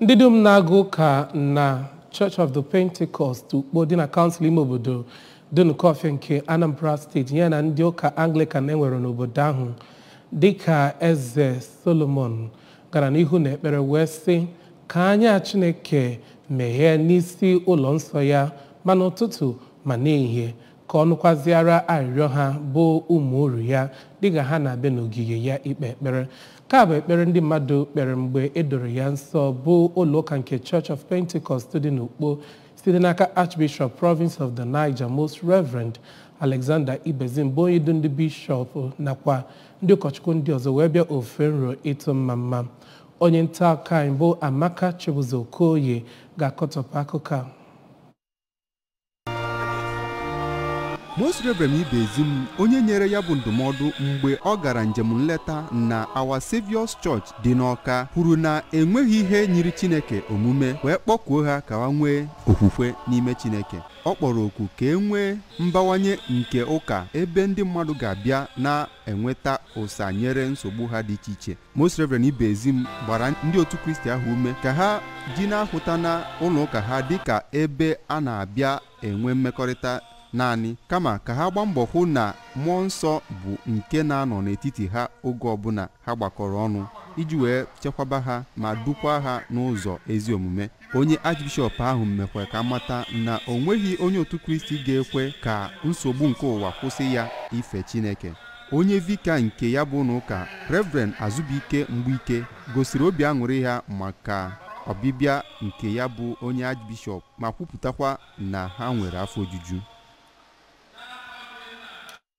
ndị dum na-aga ụka na church of the pentecost ukpo dị na kansụl ime obodo Dunukọfịa nke anambra steeti ya na ndị ụka anglican e nwere n'obodo ahụ dịka eze solomon gara n'ihu n'ekpere wee sị ka anya chineke meghee n'isi ụlọ nsọ ya ma n'ụtụtụ ma n'ehihie ka ọ nụkwaziara arịrịọ ha bụ ụmụ oru ya dịka ha na-abịa n'ogige ya ikpe ekpere ka bụ ekpere ndị mmadụ kpere mgbe e doro ya nsọ bụ ụlọụka nke Church of Pentecost dị n'Ukpo site n'aka Archbishop Province of the Niger Most Reverend Alexander Ibezim bụ onye du ndị bishọp nakwa ndị ụkọchukwu ndị ọzọ wee bịa ofufe nro ịtụ mmamma onye nta akụkọ anyị bụ Amaka Chibuzo Okoye ga-akọtọpụ akụkọ a Most Reverend Ibezim onye nyere ya bụ ndụmọdụ mgbe ọ gara njem nleta na Our Saviour's Church dị n'Ọka kwuru na enweghị ihe nyiri Chineke omume wee kpọkuo ha ka ha nwee okwukwe n'ime Chineke ọ kpọrọ oku ka e nwee mbawanye nke ụka ebe ndị mmadụ ga-abịa na enweta ụsa nyere nsogbu ha dị iche iche Most Reverend Ibezim gbara ndị otu Kristi ahụ ume ka ha ji na-ahụta na ụlọ ụka ha dịka ebe a na-abịa enwe mmekọrịta naanị kama ka ha gbaa mbọ hụ na mmụọ nsọ bụ nke na-anọ n'etiti ha oge ọbụla ha gbakọrọ ọnụ iji wee chekwaba ha ma dukwa ha n'ụzọ ezi omume onye Archbishop ahụ mekwa ka a mata na o nweghị onye otu Kristi ga-ekwe ka nsogbu nke ụwa kwụsị ya ife Chineke onye vika nke ya bụ ụnọ ụka Reverend Azubike Mgbuike gosiri obi aṅụrị ha maka ọbịbịa nke ya bụ onye Archbishop ma kwupụtakwa na ha nwere afọ ojuju